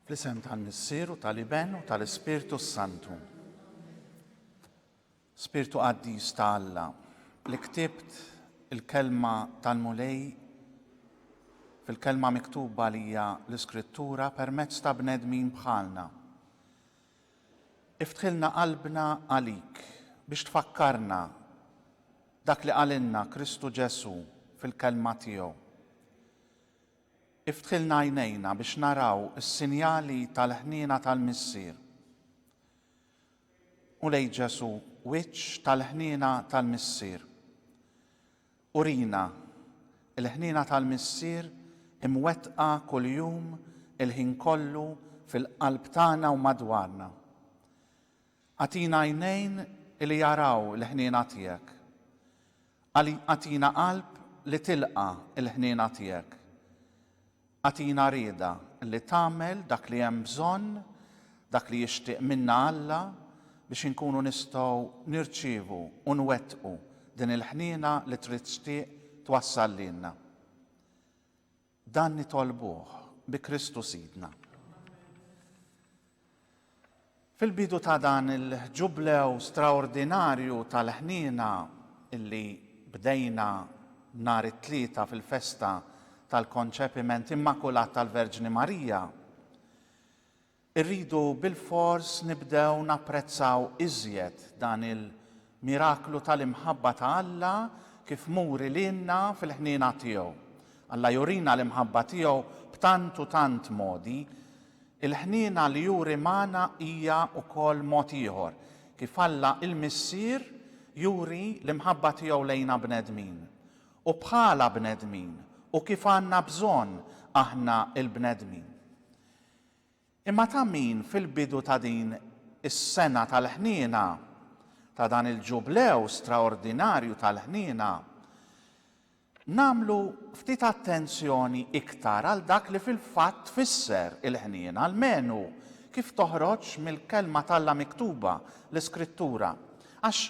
Fl-isem tal-Missier u tal-Iben u tal-Ispirtu Santu. Spirtu qaddis ta' Alla li ktibt il-kelma tal-Mulej fil-kelma miktuba li hija l-Iskrittura permezz ta' bnedmin bħalna. Iftħilna qalbna għalik biex tfakkarna dak li qalilna Kristu Ġesù fil-Kelma tiegħu. Iftħilna għajnejna biex naraw is-sinjali tal-ħniena tal-Missier. U lej Ġesù, wiċċ tal-ħniena tal-Missier. Urina, il-ħniena tal-Missier imwettqa kuljum il-ħin kollu fil-qalb tagħna u madwarna. Agħtina għajnejn li jaraw il-ħniena tiegħek. Agħtina qalb li tilqa' l-ħniena tiegħek. Agħtina rieda li tagħmel dak li hemm bżonn, dak li jixtieq minna Alla, biex inkunu nistgħu nirċievu u nwettqu din il-ħniena li trid tixtieq twassal lilna. Dan nitolbuh bi Kristu Sidna. Fil-bidu ta' dan il-Ġublew straordinarju tal-ħniena li bdejna nhar it-Tlieta fil-festa tal-Konċepiment Immakulat tal-Verġni Marija, irridu bilfors nibdew napprezzaw iżjed dan il Miraklu tal-imħabba ta' Alla kif muri lilna fil-ħniena tiegħu. Alla jurina l-imħabba tiegħu b'tant u tant modi. Il-ħniena li juri magħna hija wkoll mod ieħor kif Alla l-Missier juri l-imħabba tiegħu lejna bnedmin. U bħala bnedmin u kif għandna bżonn aħna l-bnedmin. Imma ta' min fil-bidu ta' din is-sena tal-ħniena, ta' dan il-Ġublew straordinarju tal-ħniena, nagħmlu ftit attenzjoni iktar għal dak li fil-fatt tfisser il-ħniena, almenu kif toħroġ mill-Kelma t'Alla miktuba, l-Iskrittura. Għax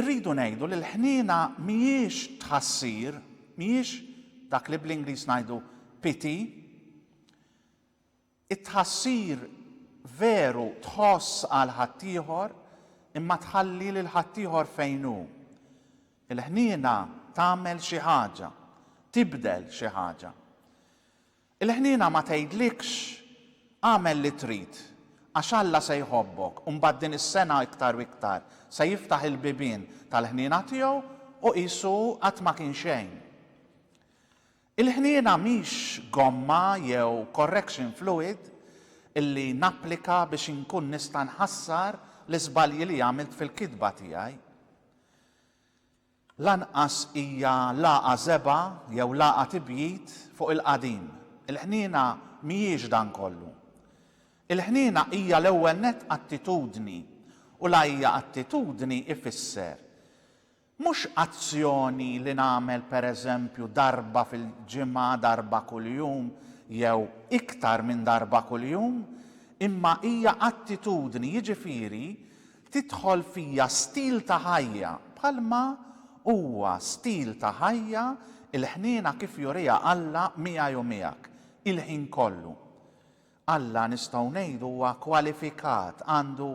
irridu ngħidu li l-ħniena mhijiex tħassir, mhijiex dak li bl-Ingliż ngħidu pity, It-tħassir veru tħoss għal ħaddieħor imma tħalli lil ħaddieħor fejn hu. Il-ħniena tagħmel xi ħaġa, tibdel xi ħaġa. Il-ħniena ma tgħidlikx, agħmel li trid, għax Alla se jħobbok u mbagħad din is-sena iktar u iktar se jiftaħ il-bibien tal-ħniena tiegħu u qisu qatt ma kien xejn. Il-ħniena mhix gomma jew correction fluid li napplika biex inkun nista' nħassar l-iżbalji li għamilt fil-kitba tiegħi. Lanqas hija lagħqa żebgħa jew lagħqa tibjid fuq il-qadim. Il-ħniena mhijiex dan kollu. Il-ħniena hija l-ewwel nett attitudni u l-għajja attitudni ifisser Mhux azzjoni li nagħmel pereżempju darba fil-ġimgħa, darba kuljum, jew iktar minn darba kuljum, imma hija attitudni, jiġifieri, tidħol fija stil ta' ħajja, bħalma huwa stil ta' ħajja l-ħniena kif juriha Alla miegħi u miegħek, il-ħin kollu. Alla nistgħu ngħidu huwa kwalifikat, għandu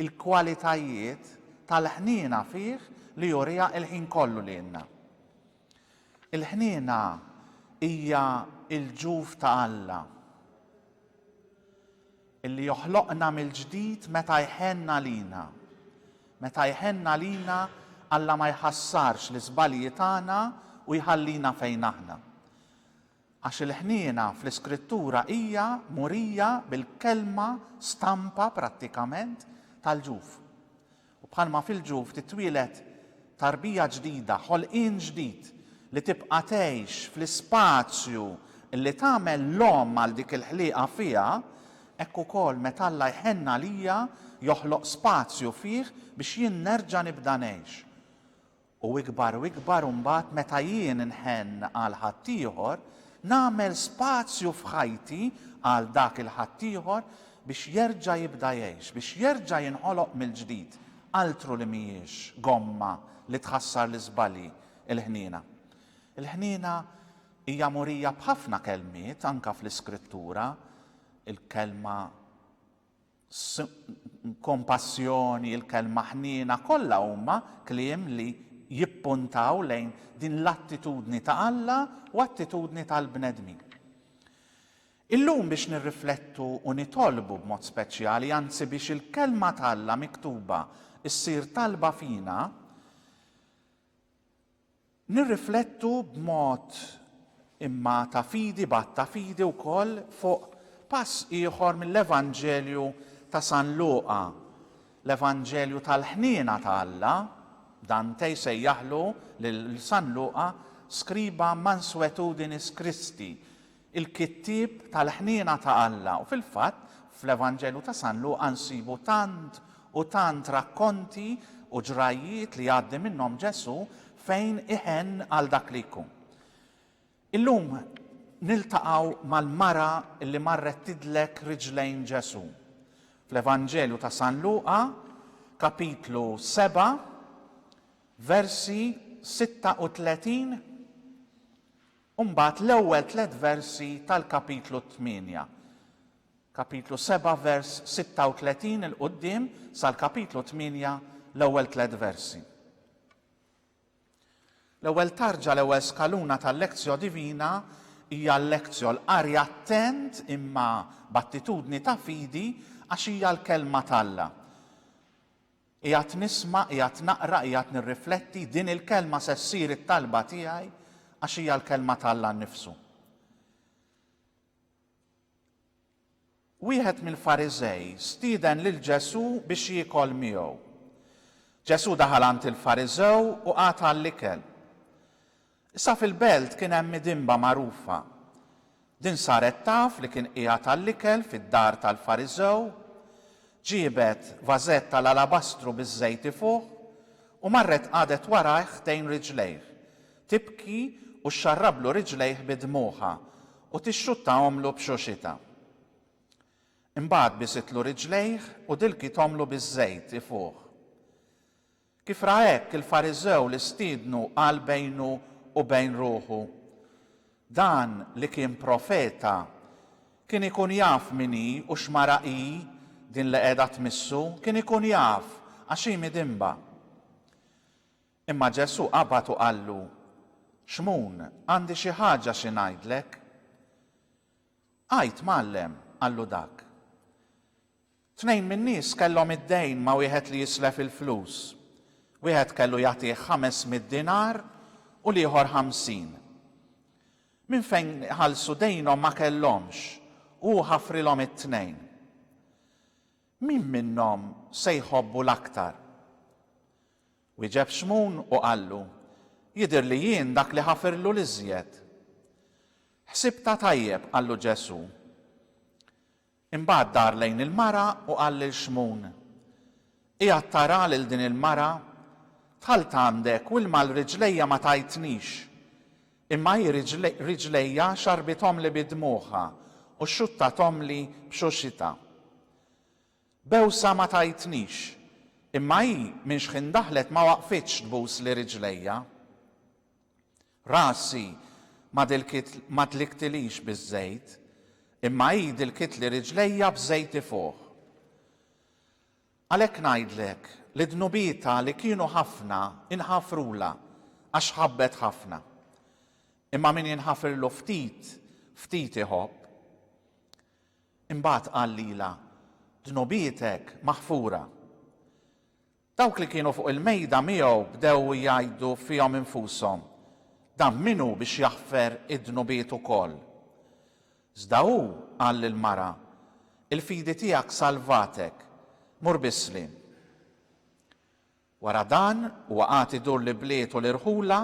l-kwalitajiet tal-ħniena fih li juriha l-ħin kollu lilna. Il-ħniena hija l-ġuf ta' Alla illi joħloqna mill-ġdid meta jħenn għalina. Meta jħenn għalina, Alla ma jħassarx l-iżbalji tagħna u jħallina fejn aħna. Għax il-ħniena fl-Iskrittura hija murija bil-kelma stampa, prattikament, tal-ġuf. U bħalma fil-ġuf titwieled tarbija ġdida, ħolqien ġdid li tibqa' tgħix fl-ispazju li tagħmel l-omm għal dik il-ħlieqa fiha, hekk ukoll meta Alla jħenn għalija joħloq spazju fih biex jien nerġa' nibda ngħix. U ikbar u ikbar u mbagħad meta jien nħenn għal ħaddieħor, nagħmel spazju f'ħajti għal dak il-ħaddieħor biex jerġa' jibda jgħix, biex jerġa' jinħoloq mill-ġdid, altru li mhijiex gomma li tħassar l-iżbalji, il-ħniena. Il-ħniena hija murija b'ħafna kelmiet anke fl-Iskrittura, il-kelma kompassjoni, il-kelma ħniena, kollha huma kliem li jippuntaw lejn din l-attitudni ta' Alla u attitudni tal-bnedmin. Illum biex nirriflettu u nitolbu b'mod speċjali, anzi biex il-Kelma t'Alla miktuba ssir talba fina, Nirriflettu b'mod imma ta' fidi b'għadd ta' fidi wkoll fuq pass ieħor mill-Evanġelju ta' San Luqa, l-Evanġelju tal-ħniena ta' Alla, Dante jsejjaħlu lil San Luqa scriba mansuetudinis Christi, il-kittieb tal-ħniena ta' Alla u fil-fatt fl-Evanġelju ta' San Luqa nsibu tant u tant rakkonti u ġrajjiet li jgħaddi minnhom Ġesù fejn iħenn għal dak li jkun. Illum niltaqgħu mal-mara li marret tidlek riġlejn Ġesù. Fl-Evanġelju ta' San Luqa, kapitlu 7, versi 36 u mbagħad l-ewwel tliet versi tal-Kapitlu t-tmienja, Kapitlu seba' vers 36 'il quddiem sal-Kapitlu tmienja l-ewwel tliet versi. L-ewwel tarġa, l-ewwel skaluna tal-Lectio Divina hija l-Lectio, l-qari attent imma b'attitudni ta' fidi għax hija l-Kelma t'Alla. Qiegħed nisma', qiegħed naqra, qiegħed nirrifletti, din il-kelma se ssir it-talba tiegħi għax hija l-kelma ta' Alla nnifsu. Wieħed mill-Fariżej stieden lil Ġesù biex jiekol miegħu. Ġesù daħal għand il-Fariżew u qata' l-ikel. Issa fil-belt kien hemm midinba magħrufa. Din saret taf li kien qiegħed għall-ikel fid-dar tal-Fariżew, ġiebet vażett tal-alabastru biż-żejt ifuħ u marret qagħdet warajh ħdejn riġlejh, tibki u xxarrablu riġlejh bi dmugħha u tixxuttahomlu b'xuxitha. Imbagħad bisitlu riġlejh u dilkithomlu biż-żejt ifuħ. Kif ra hekk il-Fariżew li stiednu qal bejnu u bejn ruħu, Dan li kien profeta, kien ikun jaf min hi u x'mara hi din li qiegħda tmissu, kien ikun jaf, għax hi midinba. Imma Ġesù qabad u qallu, Xmun, għandi xi ħaġa xi ngħidlek. Għid, Mgħallem, qallu dak. Tnejn min-nies kellhom id-dejn ma' wieħed li jislef il-flus. Wieħed kellu jagħtih ħames mitt dinar u l-ieħor ħamsin. Minn fejn iħallsu dejnhom ma kellhomx u hu ħafrilhom it-tnejn. Min minnhom se jħobbu l-aktar? Wieġeb Xmun u qallu, Jidher li jien dak li ħafirlu l-iżjed. Ħsibtha tajjeb, qallu Ġesù. Imbagħad dar lejn il-mara u qal lil Xmun, Qiegħed tara lil din il-mara? Dħalt għandek u ilma għal riġlejja ma tajtnix, imma hi riġlejja xarrbithomli bi dmugħha u xxuttathomli b'xuxitha. Bewsa ma tajtnix, imma hi minn xħin daħlet ma waqfitx tbusli riġlejja. Rasi ma dlikktilix biż-żejt, imma hi dilkitli riġlejja b'żejt ifuħ. Għalhekk ngħidlek li dnubietha li kienu ħafna inħafrulha, għax ħabbet ħafna. Imma min jinħafirlu ftit, ftit iħobb. Imbagħad qal lilha, Dnubietek maħfura. Dawk li kienu fuq il-mejda miegħu bdew jgħidu fihom infushom, Dan min hu biex jaħfer id-dnubiet ukoll? Iżda hu qal lill-mara, Il-fidi tiegħek salvatek, mur bi sliem. Wara dan, huwa qagħad idur l-ibliet u l-irħula,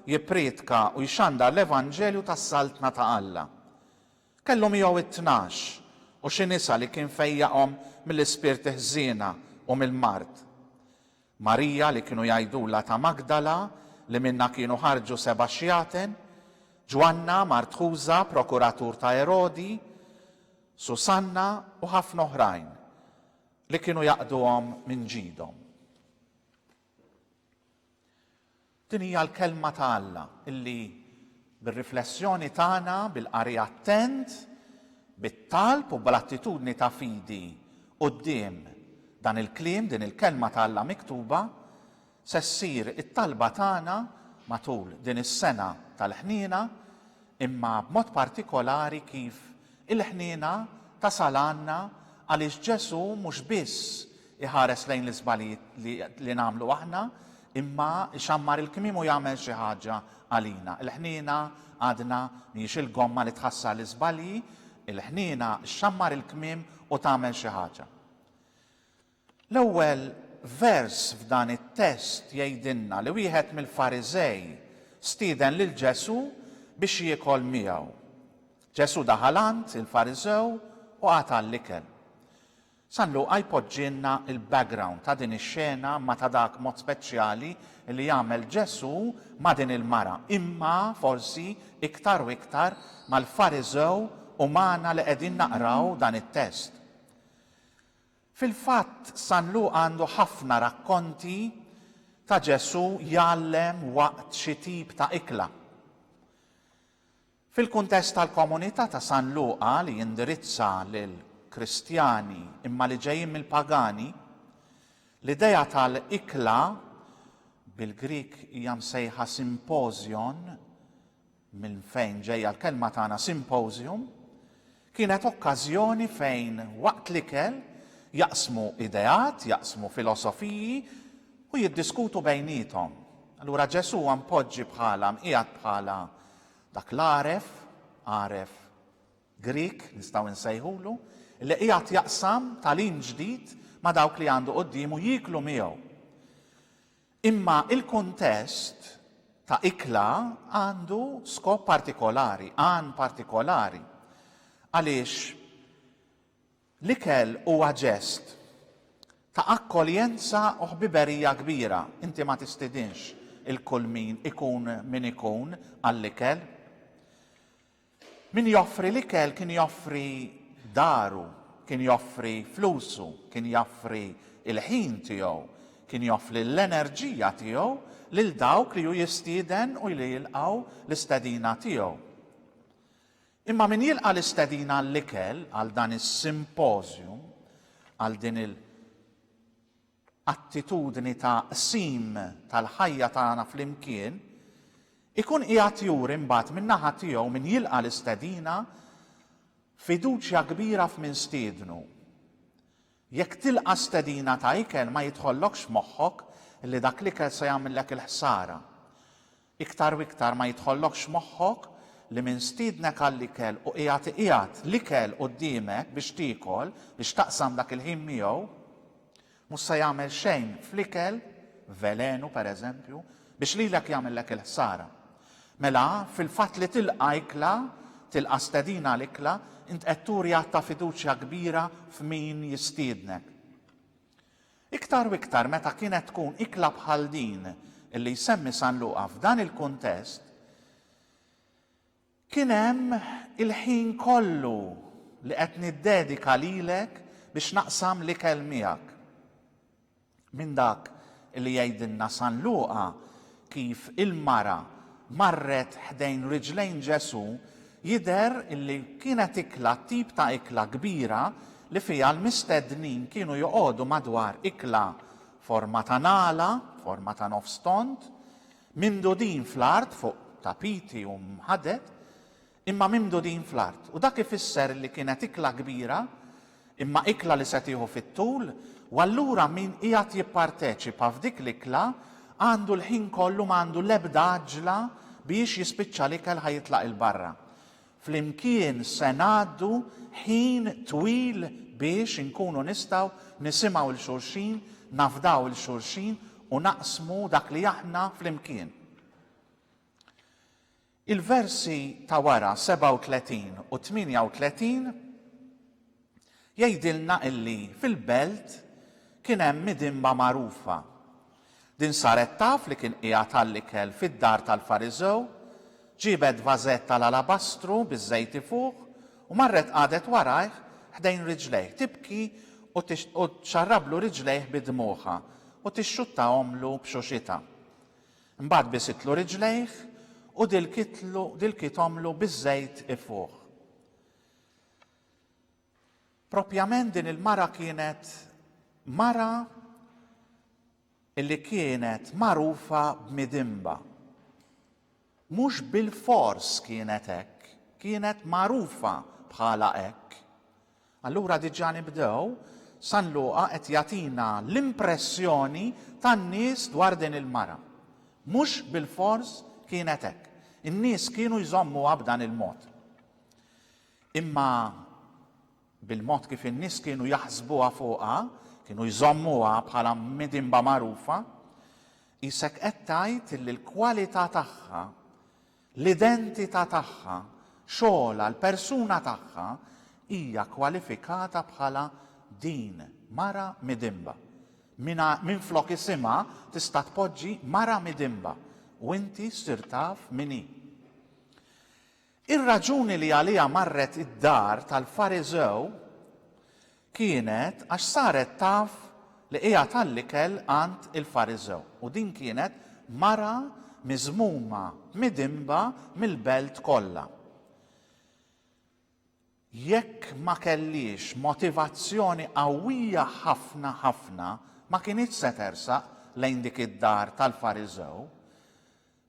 jipprietka u jxandar l-evanġelju tas-Saltna ta' Alla. Kellu miegħu t-tnax u xi nisa li kien fejjaqhom mill-ispirti ħżiena u mill-mard. Marija li kienu jgħidulha ta' Magdala li minnha kienu ħarġu seba' xjaten, Ġwanna, mart Ħuża, prokuratur ta' Erodi, Susanna u ħafna oħrajn li kienu jaqduhom minn ġidhom. Din hija l-Kelma ta' Alla illi bir-riflessjoni tagħna, bil-qari attent, bit-talb u bl-attitudni ta' fidi quddiem dan il-kliem, din il-Kelma ta' Alla miktuba, se ssir it-talba tagħna matul din is-sena tal-ħniena imma b'mod partikolari kif il-ħniena tasal għandna għaliex Ġesù mhux biss iħares lejn l-iżbalji li nagħmlu aħna, imma ixammar il-kmiem u jagħmel xi ħaġa għalina. Il-ħniena, għadna, mhijiex il-gomma li tħassar l-iżbalji, il-ħniena xxammar il-kmiem u tagħmel xi ħaġa. L-ewwel vers f'dan it-test jgħidilna li wieħed mill-Fariżej stieden lil Ġesù biex jiekol miegħu. Ġesù daħal għand il-Fariżew u qata' l-ikel. San Luqa jpoġġilna l-background ta' din ix-xena imma ta' dak mod speċjali li jagħmel Ġesù ma' din il-mara, imma forsi iktar u iktar mal-Fariżew u magħna li qegħdin naqraw dan it-test. Fil-fatt, San Luqa għandu ħafna rakkonti ta' Ġesù jgħallem waqt xi tip ta' ikla. Fil-kuntest tal-komunità ta' San Luqa li jindirizza lill-Kristjani imma li ġejjin mill-pagani, l-idea tal-ikla, bil-Grieg hija msejħa symposion, minn fejn ġejja l-kelma tagħna symposium, kienet okkażjoni fejn waqt l-ikel jaqsmu ideat, jaqsmu filosofiji u jiddiskutu bejniethom. Allura Ġesù huwa mpoġġi bħala, mqiegħed bħala dak l-għaref, għaref Grik nistgħu nsejħulu, li qiegħed jaqsam tagħlim ġdid ma' dawk li għandu quddiemu jieklu miegħu. Imma il-kuntest ta' ikla għandu skop partikolari, għan partikolari. Għaliex l-ikel huwa ġest ta' akkoljenza u ħbiberija kbira. Inti ma tistidinx 'il kull min ikun min ikun għall-ikel. Min joffri l-ikel kien joffri daru, kien joffri flusu, kien joffri l-ħin tiegħu, kien joffli l-enerġija tiegħu lil dawk li hu jistieden u li jilqgħu l-istedina tiegħu. Imma min jilqa' l-istedina għall-ikel, għal dan is-simpożjum, għal din il. attitudni ta' qsim tal-ħajja tagħna flimkien, ikun qiegħed juri mbagħad min-naħa tiegħu min jilqa' l-istedina fiduċja kbira f'min stiednu. Jekk tilqa' stedina ta' ikel ma jidħollokx f'moħħok li dak l-ikel se jagħmillek il-ħsara. Iktar u iktar ma jidħollokx moħħok li min stiednek għall-ikel u qiegħed iqiegħed l-ikel quddiemek biex tiekol, biex taqsam dak il-ħin miegħu, mhux se jagħmel xejn fl-ikel, velenu per eżempju, biex lilek jagħmillek il-ħsara. Mela, fil-fatt li tilqa' ikla, tilqa' stedina għal ikla, int qed turi att ta' fiduċja kbira f'min jistiednek. Iktar u iktar meta kienet tkun ikla bħal din li jsemmi San Luqa f'dan il-kuntest, kien hemm il-ħin kollu li qed niddedika lilek biex naqsam l-ikel miegħek. Minn dak li jgħidilna San Luqa kif il-mara marret ħdejn riġlejn Ġesù, jidher li kienet ikla tip ta' ikla kbira li fiha l-mistednin kienu joqogħdu madwar ikla forma ta' ngħala, forma ta' nofs tond, mimdudin fl-art fuq tapiti u mħaded, imma mimdudin fl-art, u dak ifisser li kienet ikla kbira, imma ikla li se tieħu fit-tul, u allura min qiegħed jipparteċipa f'dik l-ikla għandu l-ħin kollu ma għandu l-ebda għaġġla biex jispiċċa l-ikel ħa jitlaq 'il barra. Flimkien se ngħaddu ħin twil biex inkunu nistgħu nisimgħu 'l xulxin, nafdaw 'l xulxin u naqsmu dak li aħna flimkien. Il-versi ta' wara 37 u 38 jgħidilna illi fil-belt kien hemm midinba magħrufa. Din saret taf li kien qiegħed għall-ikel fid-dar tal-Fariżew, ġiebet vażett tal-alabastru biż-żejti fuq u marret qagħdet warajh ħdejn riġlejh tibki u txarrablu riġlejh bi dmugħha u tixxuttahomlu b'xuxitha. Mbagħad bisitlu riġlejh u dilkitlu dilkithomlu biż-żejt ifuħ. Proprjament din il-mara kienet mara li kienet magħrufa b'midinba. Mhux bilfors kienet hekk, kienet magħrufa bħala hekk. Allura diġà nibdew, San Luqa qed jagħtina l-impressjoni tan-nies dwar din il-mara. Mhux bilfors kienet hekk. In-nies kienu jżommuha b'dan il-mod. Imma bil-mod kif in-nies kienu jaħsbuha fuqha, kienu jżommuha bħala midinba magħrufa, qisek qed tgħid li l-kwalità tagħha l-identità tagħha, xogħolha, l-persuna tagħha, hija kwalifikata bħala din mara midinba. Minflok isimha tista' tpoġġi mara midinba u inti ssir taf min hi. Ir-raġuni li għaliha marret id-dar tal-Fariżew Kienet għax saret taf li qiegħed għall-ikel għand il-Fariżew, u din kienet mara miżmuma, midinba mill-belt kollha. Jekk ma kellhiex motivazzjoni qawwija ħafna ħafna, ma kinitx se tersaq lejn dik id-dar tal-Fariżew.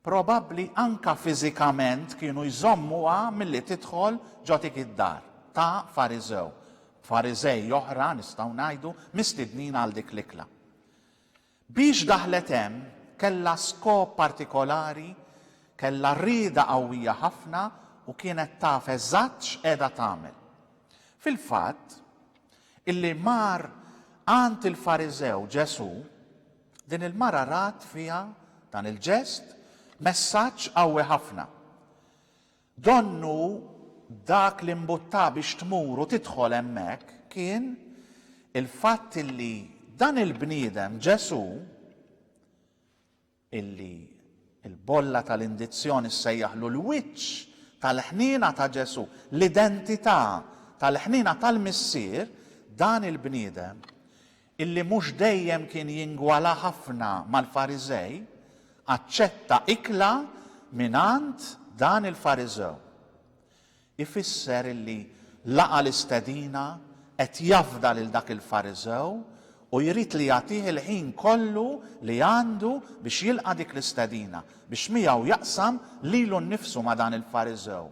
Probabbli anke fiżikament kienu jżommuha milli tidħol ġo dik id-dar ta' Fariżew, b'Fariżej oħra, nistgħu ngħidu, mistednin għal dik l-ikla. Biex daħlet hemm, kellha skop partikolari, kellha rieda qawwija ħafna u kienet taf eżatt x'qiegħda tagħmel. Fil-fatt, illi mar għand il-Fariżew Ġesù, Din il-mara rat fiha dan il-ġest messaġġ qawwi ħafna. Donnu dak li mbuttha biex tmur u tidħol hemmhekk kien il-fatt illi dan il-bniedem, Ġesù, illi l-bolla tal-indizzjoni ssejjaħlu l-wiċċ tal-ħniena ta' Ġesù, l-identità tal-ħniena tal-Missier, dan il-bniedem illi mhux dejjem kien jingwala ħafna mal-Fariżej, aċċetta ikla mingħand dan il-Fariżew. Ifisser illi laqa' l-istedina, qed jafda lil dak il-Fariżew u jrid li jagħtih il-ħin kollu li għandu biex jilqa' dik l-istedina, biex miegħu jaqsam lilu nnifsu ma' dan il-Fariżew.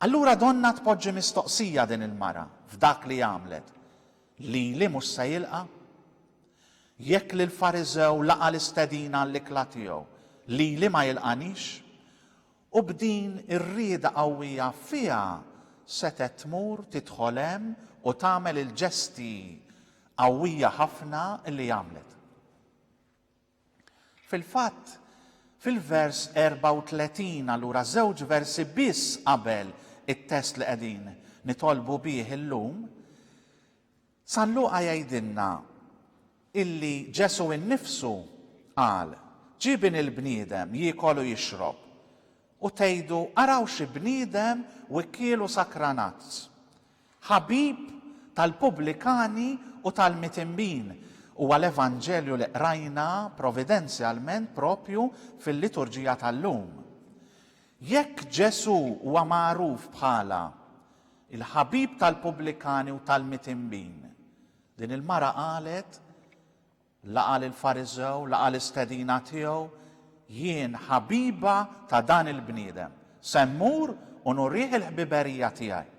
Allura donnha tpoġġi mistoqsija din il-mara f'dak li għamlet. Lili mhux se jilqa'? Jekk lill-Fariżew laqa' l-istedina għall-ikla tiegħu, lili ma jilqanix? U b'din ir-rieda qawwija fiha setgħet tmur tidħol hemm u tagħmel il-ġesti qawwija ħafna li għamlet. Fil-fatt, fil-vers 34, allura żewġ versi biss qabel it-test li qegħdin nitolbu bih illum, San Luqa jgħidilna illi Ġesù innifsu qal, Ġie Bin il-bniedem jiekol u jixrob, u tgħidu, 'Araw xi bniedem wikkiel u sakranazz! Ħabib tal-pubblikani u tal-mitinbin, huwa l-Evanġelju li qrajna providenzjalment proprju fil-liturġija tal-lum. Jekk Ġesù huwa magħruf bħala l-ħabib tal-pubblikani u tal-mitinbin, din il-mara qalet, Laqa' lill-Fariżew, laqa' l-istedina tiegħu, Jien ħabiba ta' dan il-bniedem, se mmur u nurih il-ħbiberija tiegħi.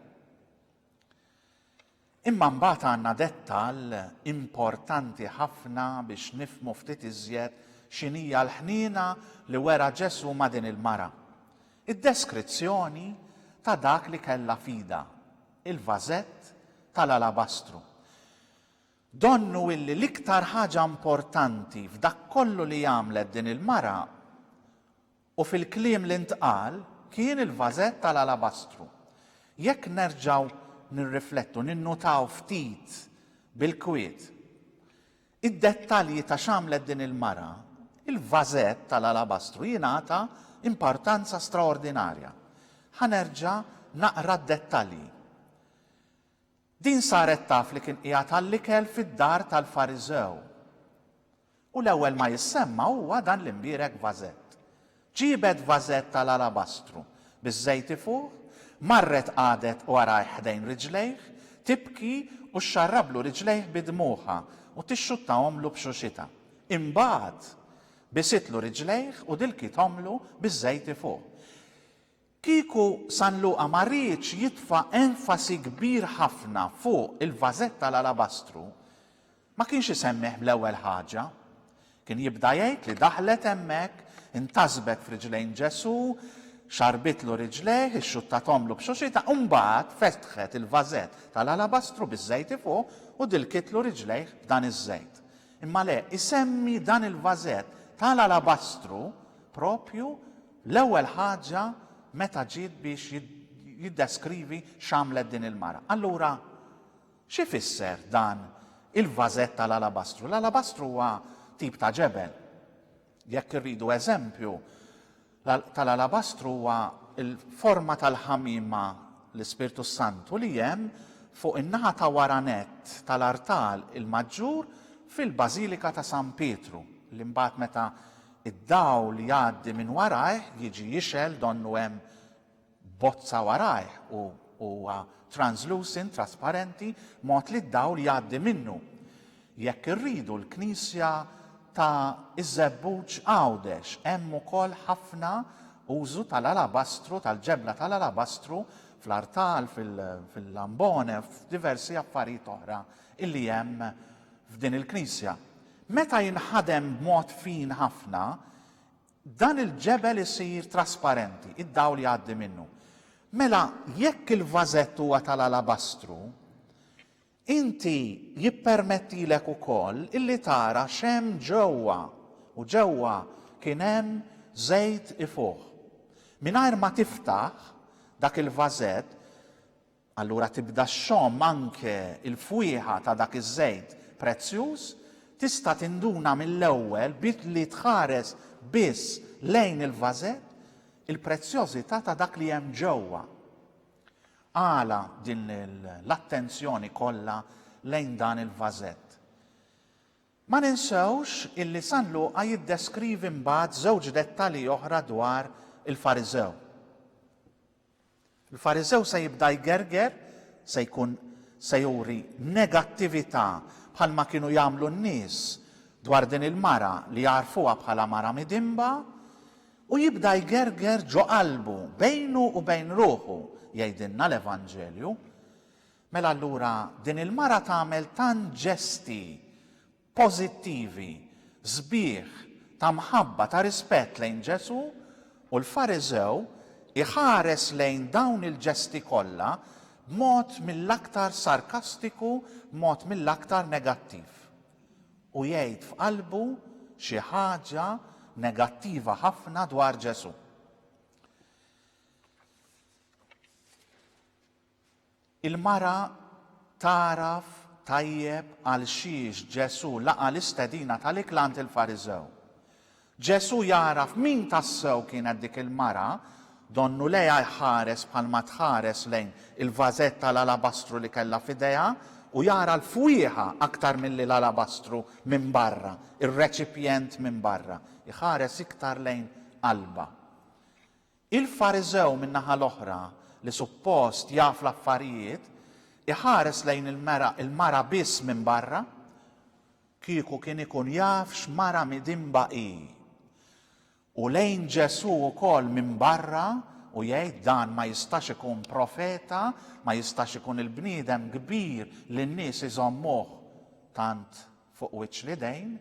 Imma mbagħad għandna dettall importanti ħafna biex nifhmu ftit iżjed x'inhija l-ħniena li wera Ġesù ma' din il-mara. Id-deskrizzjoni ta' dak li kellha f'idha, il-vażett tal-alabastru. Donnu illi l-iktar ħaġa importanti f'dak kollu li għamlet din il-mara u fil-kliem li ntqal kien il-vażett tal-alabastru. Jekk nerġgħu nirriflettu, ninnutaw ftit bil-kwiet id-dettalji ta' x'għamlet din il-mara, il-vażett tal-alabastru jingħata importanza straordinarja. Ħa nerġa' naqra d-dettalji. Din saret taf li kien qiegħed għall-ikel fid-dar tal-Fariżew. U l-ewwel ma jissemma huwa dan l-imbierek vażett. Ġiebet vażett tal-alabastru biż-żejti fuqh, marret qagħdet warajh ħdejn riġlejh, tibki u xxarrablu riġlejh bi dmugħha u tixxuttahomlu b'xuxitha. Imbagħad, bisitlu riġlejh u dilkithomlu biż-żejti fuqh. Kieku San Luqa ma riedx jitfa' enfasi kbir ħafna fuq il-vażett tal-alabastru, ma kienx isemmih bl-ewwel ħaġa. Kien jibda jgħid li daħlet hemmhekk, intasbet f'riġlejn Ġesù, xarrbitlu riġlejh, ixxuttathomlu b'xuxitha, u mbagħad fetħet il-vażett tal-alabastru biż-żejti fuq u dilkitlu riġlejh b'dan iż-żejt. Imma le, isemmi dan il-vażett tal-alabastru proprju L-ewwel ħaġa meta ġiet biex jiddeskrivi x'għamlet din il-mara. Allura, x'ifisser dan il-vażett tal-alabastru? L-alabastru huwa tip ta' ġebel. Jekk irridu eżempju, tal-alabastru huwa l-forma tal-ħamiema l-Ispirtu s-Santu li hemm fuq in-naħa ta' wara nett tal-artal il-maġġur fil-Bażilika ta' San Pietru, li mbagħad meta Id-dawl jgħaddi minn warajh, jiġi jixgħel donnu hemm bozza warajh u huwa translucent, trasparenti, b'mod li d-dawl jgħaddi minnu. Jekk irridu l-knisja ta' Iż-Żebbuġ Għawdex hemm ukoll ħafna użu tal-alabastru, tal-ġebla tal-alabastru fl-artal, fil-lambone, f'diversi affarijiet oħra illi hemm f'din il-knisja. Meta jinħadem b'mod fin ħafna, dan il-ġebel isir trasparenti, id-dawl jgħaddi minnu. Mela, jekk il-vażett huwa tal-alabastru, inti jippermettilek ukoll illi tara x'hemm ġewwa, u ġewwa kien hemm żejt ifuħ. Mingħajr ma tiftaħ dak il-vażett, Allura tibda xxomm anke l-fwieħa ta' dak iż-żejt prezzjuż, tista' tinduna mill-ewwel billi tħares biss lejn il-vażett il-prezzjożità ta' dak li hemm ġewwa. Għala din l-attenzjoni kollha lejn dan il-vażett? Ma ninsewx illi San Luqa jiddeskrivi mbagħad żewġ dettalji oħra dwar il-Fariżew. Il-Fariżew se jibda jgerger, se jkun se juri negattività bħalma kienu jagħmlu n-nies dwar din il-mara li jagħrfuha bħala mara midinba, u jibda jgerger ġo qalbu bejnu u bejn ruħu, jgħidilna l-Evanġelju. Mela allura din il-mara tagħmel tant ġesti pożittivi, sbieħ, ta' mħabba, ta' rispett lejn Ġesù, u l-Fariżew iħares lejn dawn il-ġesti kollha b'mod mill-aktar sarkastiku, b'mod mill-aktar negattiv. U jgħid f'qalbu xi ħaġa negattiva ħafna dwar Ġesù. Il-mara tagħraf tajjeb għalxiex Ġesù laqa' l-istedina tal-ikla għand il-Fariżew. Ġesù jagħraf min tassew kienet dik il-mara, donnu lejha jħares bħalma tħares lejn il-vażett tal-alabastru li kellha f'idejha u jara l-fwieħa aktar milli l-alabastru minn barra, ir-reċipjent minn barra. Iħares iktar lejn qalbha. Il-Fariżew min-naħa l-oħra, li suppost jaf l-affarijiet, iħares lejn il-mera il-mara biss minn barra, kieku kien ikun jaf x'mara midinba hi, u lejn Ġesù wkoll minn barra u jgħid dan ma jistax ikun profeta, ma jistax ikun il-bniedem kbir li n-nies iżommuh tant fuq wiċċ l-idejn,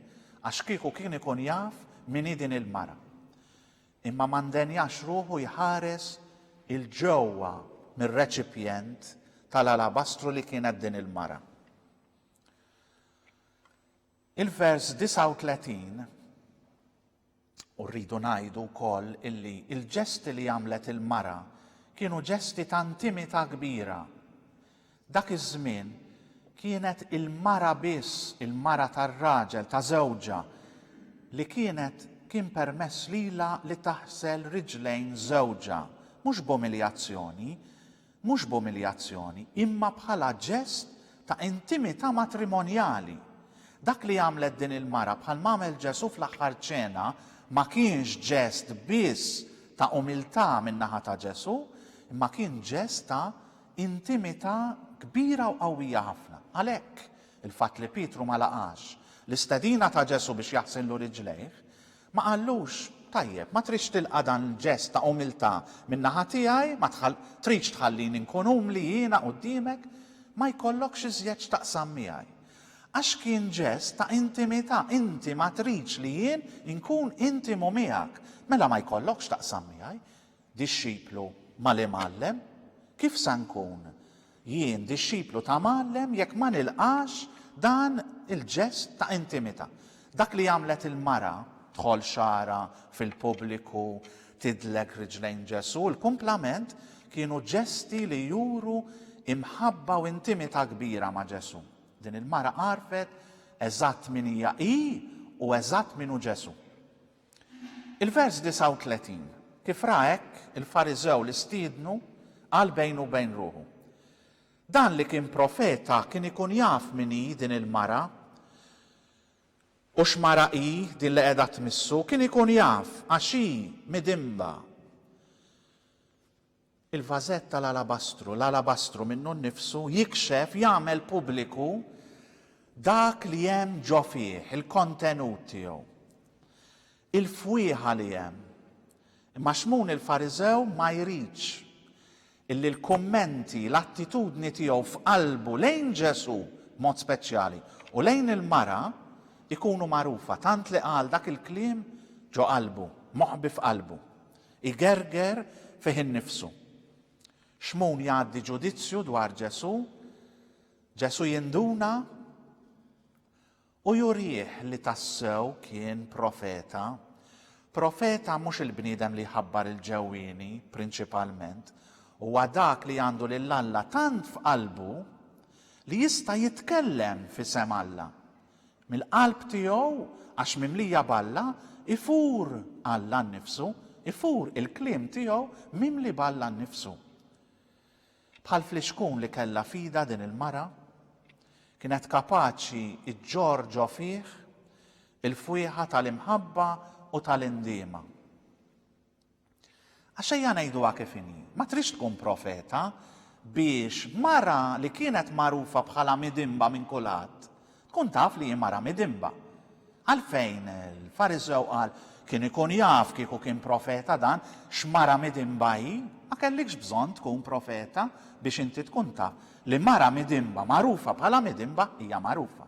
għax kieku kien ikun jaf min hi din il-mara. Imma ma ndenjax ruħu jħares 'il ġewwa mir-reċipjent tal-alabastru li kienet din il-mara. Il-vers 39 u rridu ngħidu wkoll illi l-ġesti li għamlet il-mara kienu ġesti ta' intimità kbira Dak iż-żmien kienet il-mara biss, il-mara tar-raġel, ta' żewġha, li kienet kien permess lilha li taħsel riġlejn żewġha, mhux b'umiljazzjoni, mhux b'umiljazzjoni, imma bħala ġest ta' intimità matrimonjali. Dak li għamlet din il-mara, bħal m'għamel Ġesù fl-Aħħar Ċena, ma kienx ġest biss ta' umiltà min-naħa ta' Ġesù, imma kien ġest ta' intimità kbira u qawwija ħafna. Għalhekk, il-fatt li Pietru ma laqax l-istedina ta' Ġesù biex jaħsillu riġlejh, ma qallux, Tajjeb, ma tridx tilqa' dan il-ġest ta' umiltà min-naħa tiegħi, ma tridx tħallini nkun umli jiena quddiemek, ma jkollokx iżjed x'taqsam miegħi. Għax kien ġest ta' intimità, inti ma tridx li jien inkun intimu miegħek, mela ma jkollokx x'taqsam miegħi. Dixxiplu mal-Imgħallem Kif sa nkun jien dixxiplu ta' Mgħallem jekk ma nilqax dan il-ġest ta' intimità? Dak li għamlet il-mara, dħol xagħarha fil-pubbliku, tidlek riġlejn Ġesù, il-kumplament, kienu ġesti li juru imħabba u intimità kbira ma' Ġesù. Din il-mara għarfet eżatt min hija hi u eżatt min hu Ġesù. Il-vers 39, Kif ra hekk, il-Fariżew li stiednu qal bejnu u bejn ruħu, Dan li kien profeta kien ikun jaf min hi din il-mara u x'mara hi din li qiegħda tmissu, kien ikun jaf għax hi midinba. Il-vażett tal-alabastru, l-alabastru minnu nnifsu jikxef, jagħmel pubbliku dak li hemm ġo fih, il-kontenut tiegħu, il-fwieħa li hemm. Imma Xmun il-Fariżew ma jridx illi l-kummenti, l-attitudni tiegħu f'qalbu lejn Ġesù b'mod speċjali u lejn il-mara jkunu magħrufa, tant li qal dak il-kliem ġo qalbu, moħbi f'qalbu. Igerger fih innifsu. Xmun jgħaddi ġudizzju dwar Ġesù, Ġesù jinduna u jurih li tassew kien profeta. Profeta mhux il-bniedem li jħabbar il-ġewwieni prinċipalment, huwa dak li għandu lil Alla tant f'qalbu li jista' jitkellem f'isem Alla. Mill-qalb tiegħu, għax mimlija b'Alla, ifur Alla nnifsu, ifur il-kliem tiegħu mimli b'Alla nnifsu. Bħal flixkun li kellha f'idha din il-mara, kienet kapaċi ġġorr ġo fih il-fwieħa tal-imħabba u tal-indiema. Għax ejja ngħiduha kif inhi, ma tridx tkun profeta biex mara li kienet magħrufa bħala midinba minn kulħadd tkun taf li hi mara midinba. Għalfejn il-Fariżew qal, Kien ikun jaf kieku kien profeta dan, x'mara midinba hi? Ma kellikx bżonn tkun profeta biex inti tkun taf li mara midinba magħrufa bħala midinba hija magħrufa.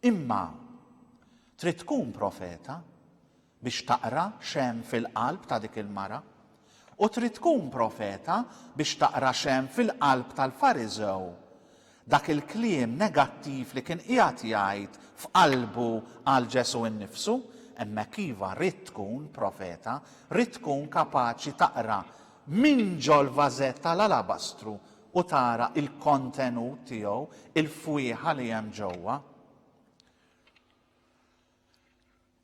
Imma trid tkun profeta biex taqra x'hemm fil-qalb ta' dik il-mara, u trid tkun profeta biex taqra x'hemm fil-qalb tal-Fariżew, dak il-kliem negattiv li kien qiegħed jgħid f'qalbu għal Ġesù nnifsu, hemmhekk iva ridt tkun profeta, ridt tkun kapaċi taqra minn ġol-vażett tal-alabastru u tara l-kontenut tiegħu, il-fwieħa li hemm ġewwa.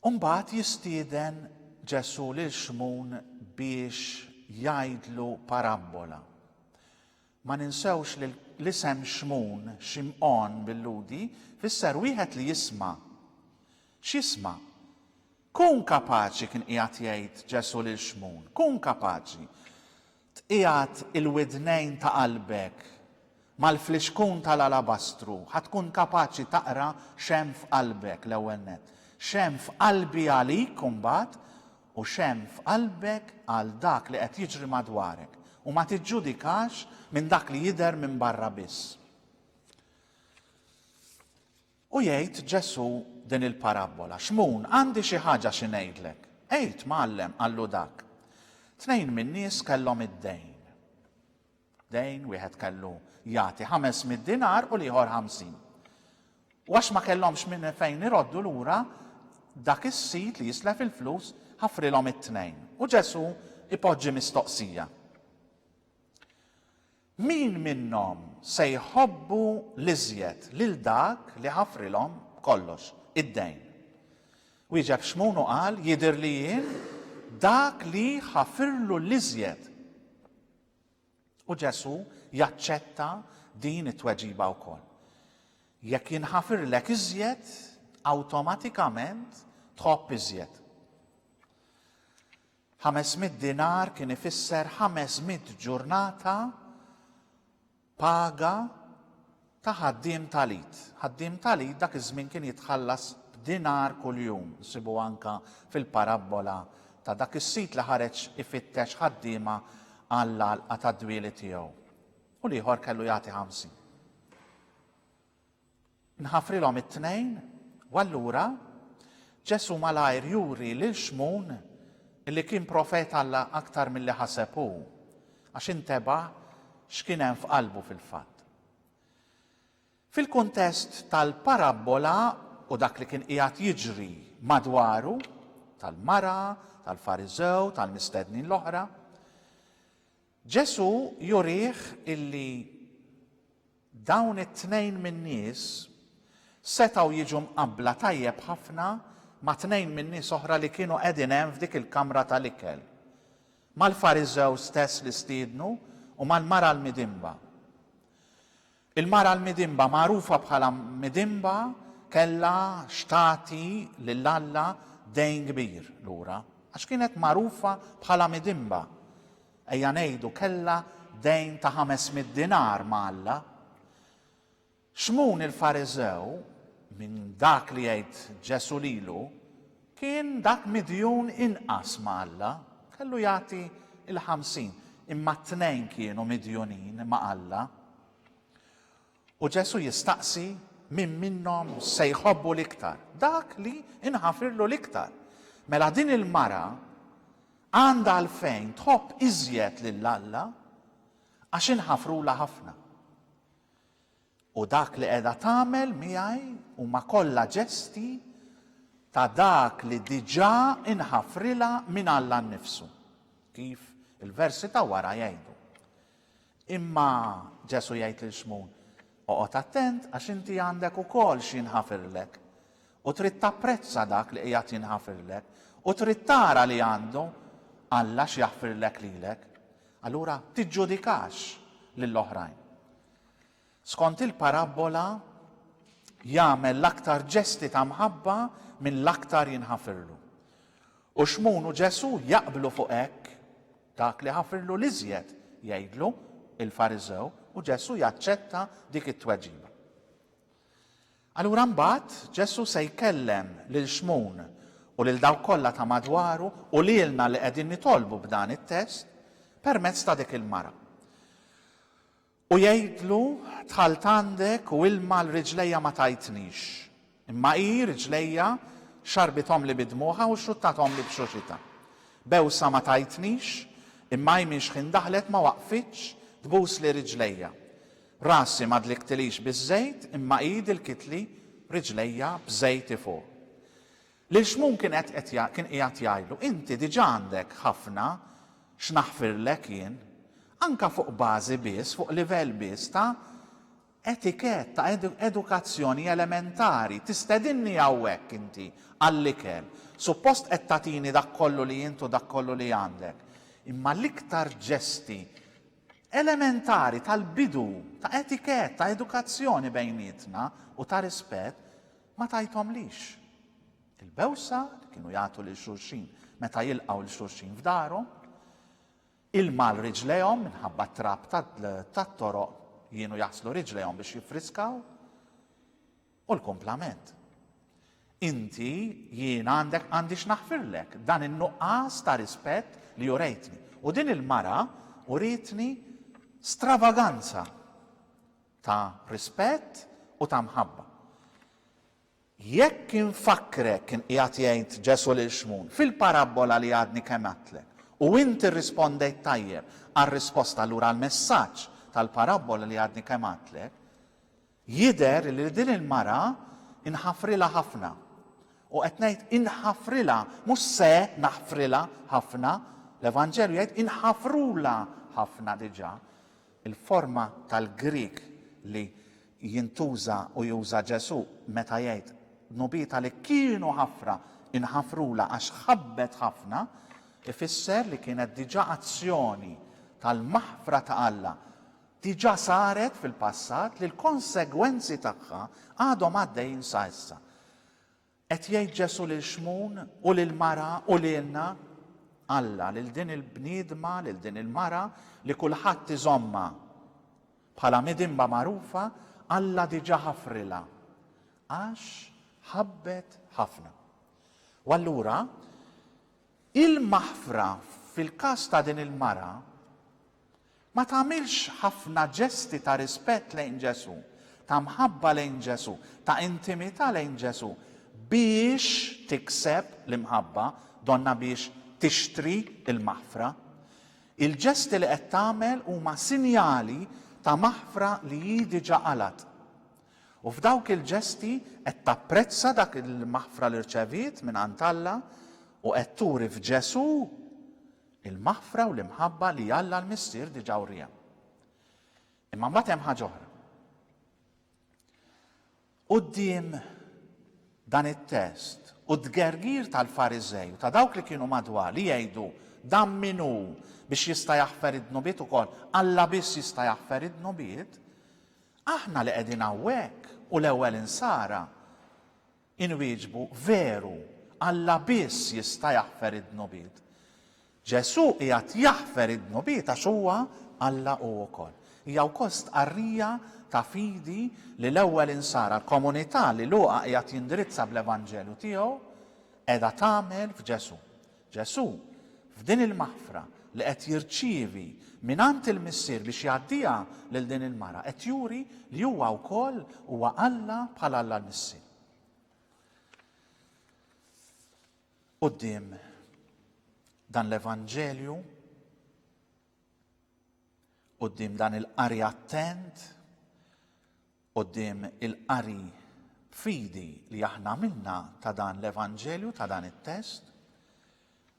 U mbagħad jistieden Ġesù lil Xmun biex jgħidlu parabbola. Ma ninsewx li l-isem Xmun, Ximqon bil-Lhudi, fisser wieħed li jisma'. X'jisma'? Kun kapaċi, kien qiegħed jgħid Ġesù lil Xmun, kun kapaċi tqiegħed il-widnejn ta' qalbek mal-flixkun tal-alabastru, ħa tkun kapaċi taqra x'hemm f'qalbek, l-ewwel nett, x'hemm f'qalbi għalik imbagħad, u x'hemm f'qalbek għal dak li qed jiġri madwarek, u ma tiġġudikax minn dak li jidher minn barra biss. U jgħid Ġesù din il-parabbola, Xmun, għandi xi ħaġa xi ngħidlek. Għid, Mgħallem, qallu dak. Tnejn min-nies kellhom id-dejn. Dejn, wieħed kellu jagħti ħames mitt dinar u l-ieħor ħamsin. U għax ma kellhomx minn fejn iroddu lura, dak is-sid li jislef il-flus ħafrilhom it-tnejn. U Ġesù ipoġġi mistoqsija. Min minnhom se jħobbu l-iżjed lil dak li ħafrilhom b'kollox, id-dejn? Wieġeb Xmun u qal, Jidher li jien dak li ħafirlu l-iżjed. U Ġesù jaċċetta din it-tweġiba wkoll. Jekk jinħafirlek iżjed, awtomatikament tħobb iżjed. Ħames mitt dinar kien ifisser ħames mitt ġurnata paga ta' ħaddiem tal-id. Ħaddiem tal-id dak iż-żmien kien jitħallas b'dinar kuljum. Nsibuha anke fil-parabbola ta' dak is-sid li ħareġ ifittex ħaddiema għall-għalqa tad-dwieli tiegħu. U l-ieħor kellu jagħti ħamsin. Nħafrilhom it-tnejn, u allura Ġesù malajr juri lil Xmun li kien profet Alla aktar milli ħaseb hu, għax inteba' x'kien hemm f'qalbu fil-fatt. Fil-kuntest tal-parabbola u dak li kien qiegħed jiġri madwaru, tal-mara, tal-Fariżew, tal-mistednin l-oħra, Ġesù jurih illi dawn it-tnejn min-nies setgħu jiġu mqabbla tajjeb ħafna ma' tnejn min-nies oħra li kienu qegħdin hemm f'dik il-kamra tal-ikel, mal-Fariżew stess li stiednu u mal-mara l-midinba. Il-mara l-midinba, magħrufa bħala midinba, kellha x'tagħti lil Alla dejn kbir lura. Għax kienet magħrufa bħala midinba, ejja ngħidu kellha dejn ta' ħames mitt dinar ma' Alla. Xmun il-Fariżew, minn dak li jgħid Ġesù lilu, Kien dak midjun inqas ma' Alla, kellu jagħti l-ħamsin, imma t-tnejn kienu midjunin ma' Alla. U Ġesù jistaqsi min minnhom se jħobbu l-iktar, dak li nħafirlu l-iktar. Mela din il-mara għandha għalfejn tħobb iżjed lil Alla għax inħafrulha ħafna. U dak li qiegħda tagħmel miegħi huma kollha ġesti ta' dak li diġà inħafrilha minn Alla nnifsu, kif il-versi ta' wara jgħidu. Imma Ġesù jgħid lil Xmun, Oqgħod attent għax inti għandek ukoll xi jinħafirlek, u trid tapprezza dak li qiegħed jinħafirlek, u trid tara li għandu Alla x'jaħfirlek lilek. Allura tiġġudikax lill-oħrajn. Skont il-parabbola, jagħmel l-aktar ġesti ta' mħabba min l-aktar jinħafirlu. U Xmun u Ġesù jaqblu fuq hekk, dak li ħafirlu l-iżjed, jgħidlu, il-Fariżew, u Ġesù jaċċetta dik it-tweġiba. Allura mbagħad Ġesù se jkellem lil Xmun u lil dawk kollha ta' madwaru u lilna li qegħdin nitolbu b'dan it-test permezz ta' dik il-mara. U jgħidlu, Dħalt għandek u ilma għal riġlejja ma tajtnix, imma hi, riġlejja, xarrbithomli bi dmugħha u xruttathomli b'xuxitha. Bewsa ma tajtnix, imma hi minn xħin daħlet ma waqfitx tbusli riġlejja. Rasi ma dlikktilix biż-żejt, imma hi dilkitli riġlejja b'żejti fuq. Lil Xmun kien qed qed kien qiegħed jgħidlu, Inti diġà għandek ħafna x'naħfirlek jien. Anke fuq bażi biss, fuq livell biss ta' etikett, ta' edukazzjoni elementari. Tistedinni hawnhekk inti għall-ikel. Suppost qed tagħtini dak kollu li int u dak kollu li għandek. Imma l-iktar ġesti elementari tal-bidu, ta' etikett, ta' edukazzjoni bejnietna u ta' rispett, Ma tajthomlix. Il-bewsa li kienu jagħtu lil xulxin meta jilqgħu lil xulxin f'darhom, ilma għal riġlejhom minħabba t-trab tat-toroq li kienu jaħslu riġlejhom biex jiffriskaw, u l-kumplament. Inti jien għandek għandix naħfirlek dan in-nuqqas ta' rispett li jurejtni. U din il-mara uritni stravaganza ta' rispett u ta' mħabba. Jekk infakkrek, kien qiegħed jgħid Ġesù lil Xmun, fil-parabbola li għadni kemm għidtlek, u int irrispondejt tajjeb għar-risposta allura għall-messaġġ tal-parabbola li għadni kemm għidtlek, jidher li din il-mara inħafrilha ħafna. U qed ngħid inħafrilha, mhux se naħfrilha ħafna, l-Evanġelju jgħid inħafrulha ħafna diġà. Il-forma tal-Grieg li jintuża u juża Ġesù meta jgħid dnubietha li kienu ħafra nħafrulha għax ħabbet ħafna, ifisser li kienet diġà azzjoni tal-maħfra ta' Alla diġà saret fil-passat li l-konsegwenzi tagħha għadhom għaddejjin sa issa. Qed jgħid Ġesù lil Xmun u lill-mara u lilna, Alla, lil din il-bniedma, lil din il-mara li kulħadd iżommha bħala midinba magħrufa, Alla diġà ħafrilha, għax ħabbet ħafna. U allura, il-maħfra fil-każ ta' din il-mara Ma tagħmilx ħafna ġesti ta' rispett lejn Ġesù, ta' mħabba lejn Ġesù, ta' intimità lejn Ġesù biex tikseb l-imħabba, donnha biex tixtri l-maħfra. Il-ġesti li qed tagħmel huma sinjali ta' maħfra li hi diġà qalgħet. U f'dawk il-ġesti qed tapprezza dak il-maħfra li rċeviet mingħand Alla u qed turi f'Ġesù Il-maħfra u l-imħabba li Alla l-Missier diġà wriha. Imma mbagħad hemm ħaġa oħra. Quddiem dan it-test u d-dgergir tal-Fariżej u ta' dawk li kienu madwar li jgħidu dan min hu biex jista' jaħfer id-dnubiet ukoll, Alla biss jista' jaħfer id-dnubiet, aħna li qegħdin hawnhekk u l-ewwel insara Inwieġbu, Veru, Alla biss jista' jaħfer id-dnubiet. Ġesù qiegħed jaħfer id-dnubiet għax huwa Alla hu wkoll. Hija wkoll stqarrija ta' fidi li l-ewwel Insara, l-komunità li Luqa qiegħed jindirizza bl-Evanġelju tiegħu, qiegħda tagħmel f'Ġesù. Ġesù, f'din il-maħfra li qed jirċievi mingħand il-Missier biex jgħaddiha lil din il-mara, qed juri li huwa wkoll huwa Alla bħal Alla l-Missier. Quddiem dan l-Evanġelju, quddiem dan il-qari attent, quddiem il-qari b'fidi li aħna għamilna ta' dan l-Evanġelju, ta' dan it-test,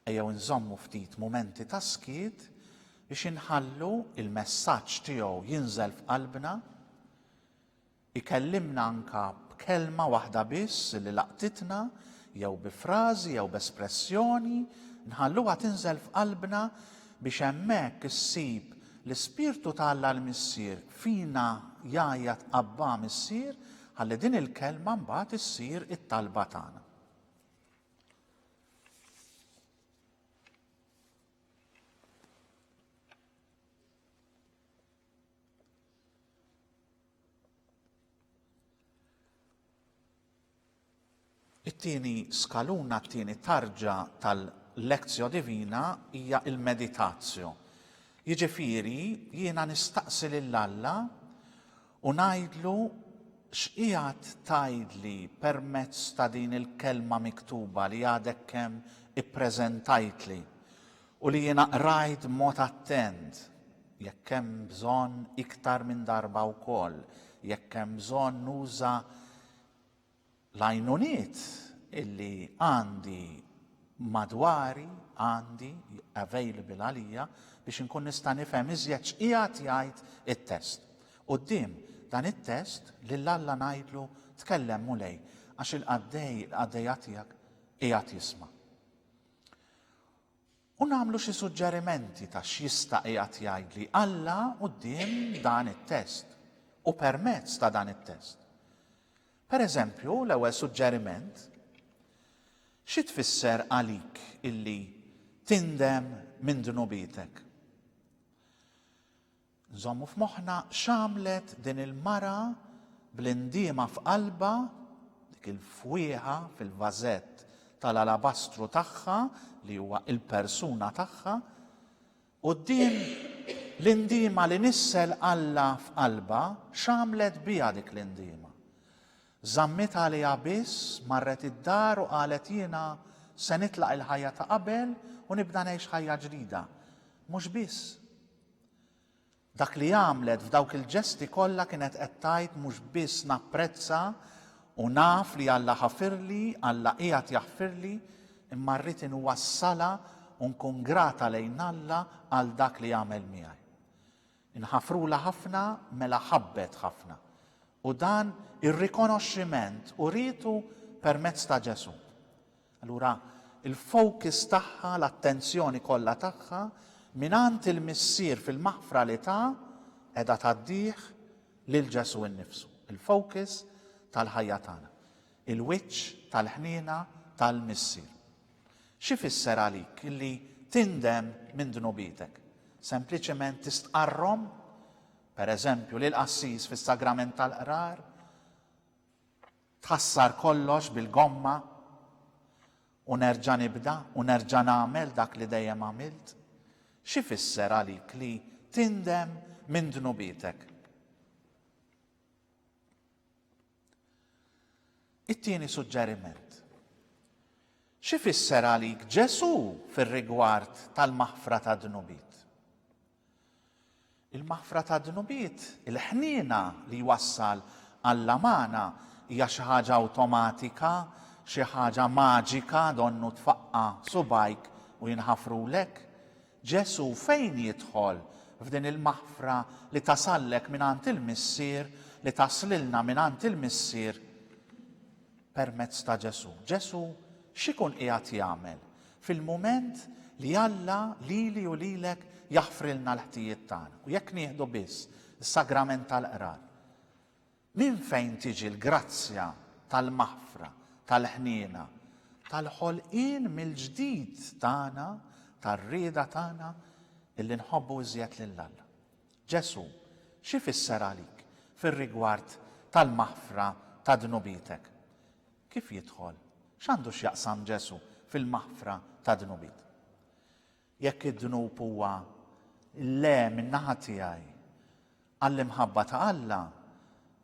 ejjew inżommu ftit mumenti ta' skiet biex inħallu il-messaġġ tiegħu jinżel f'qalbna, ikellimna anka b'kelma waħda biss li laqtitna, jew bi frażi, jew b'espressjoni, nħalluha tinżel f'qalbna biex hemmhekk issib l-Ispirtu ta' Alla l-Missier fina jgħajjat Abbà Missier ħalli din il-kelma mbagħad issir it-talba tagħna. It-tieni skaluna, t-tieni tarġa tal-lectio divina hija l-meditatio. Jiġifieri jiena nistaqsi lil Alla u ngħidlu x'qiegħed tgħidli permezz ta' din il-kelma miktuba li għadek kemm ippreżentajtli u li jiena qrajt b'mod attent, jekk hemm bżonn iktar minn darba wkoll, jekk hemm bżonn nuża L-għajnuniet illi għandi madwari, għandi, available għalija, biex inkun nista' nifhem iżjed x'qiegħed jgħid it-test. Quddiem dan it-test, lil Alla ngħidlu, Tkellem, Mulej, għax il-qaddej, il-qaddejja tiegħek qiegħed jisma'. u nagħmlu xi suġġerimenti ta' x'jista' qiegħed jgħidli Alla quddiem dan it-test u permezz ta' dan it-test. Pereżempju, l-ewwel suġġeriment, xi tfisser għalik illi tindem minn dnubietek? Nżommu f'moħħna x'għamlet din il-mara bl-indiema f'qalbha, dik il-fwieħa fil-vażett tal-alabastru tagħha li huwa l-persuna tagħha, quddiem l-indiema li nissel Alla f'qalbha, x'għamlet biha dik l-indiema? Żammitha għaliha biss, marret id-dar u qalet jiena se nitlaq il-ħajja ta' qabel u nibda ngħix ħajja ġdida. Mhux biss. Dak li għamlet f'dawk il-ġesti kollha kienet qed tgħid mhux biss napprezza u naf li Alla ħafirli, Alla qiegħed jaħfirli, imma rrid inwassalha u nkun grata lejn Alla għal dak li għamel miegħi. Inħafrulha ħafna mela ħabbet ħafna. U dan ir-rikonoxximent urietu permezz ta' Ġesù. Allura l-focus tagħha, l-attenzjoni kollha tagħha, mingħand il-Missier fil-maħfra li ta, qiegħda tgħaddih lil Ġesù innifsu, il-focus tal-ħajja tagħna, il-wiċċ tal-ħniena tal-Missier. X'ifisser għalik li tindem minn dnubietek? Sempliċement tistqarrhom? Pereżempju, lill-qassis fis-sagrament tal-qrar? Tħassar kollox bil-gomma u nerġa' nibda u nerġa' nagħmel dak li dejjem għamilt? X'ifisser għalik li tindem minn dnubietek? It-tieni suġġeriment. X'ifisser għalik Ġesù fir-rigward tal-maħfra tad-dnubiet? Il-maħfra tad-dnubiet, il-ħniena li jwassal għall-amana, hija xi ħaġa awtomatika, xi ħaġa maġika donnu tfaqqa' subgħajk u jinħafrulek? Ġesù fejn jidħol f'din il-maħfra li tasallek mingħand il-Missier, li taslilna mingħand il-Missier? permezz ta' Ġesù. Ġesù x'ikun qiegħed jagħmel fil-mument li Alla lili u lilek jaħfrilna l-ħtijiet tagħna u jekk nieħdu biss is-sagrament tal-qrar. Minn fejn tiġi l-grazzja tal-maħfra, tal-ħniena, tal-ħolqien mill-ġdid tagħna, tar-rieda tagħna illi nħobbu iżjed lil Alla. Ġesù, x'ifisser għalik fir-rigward tal-maħfra ta' dnubietek? Kif jidħol? X'għandu x'jaqsam Ġesù fil-maħfra ta' dnubiet? Jekk id-dnub huwa l-le min-naħa tiegħi għall-imħabba ta' Alla,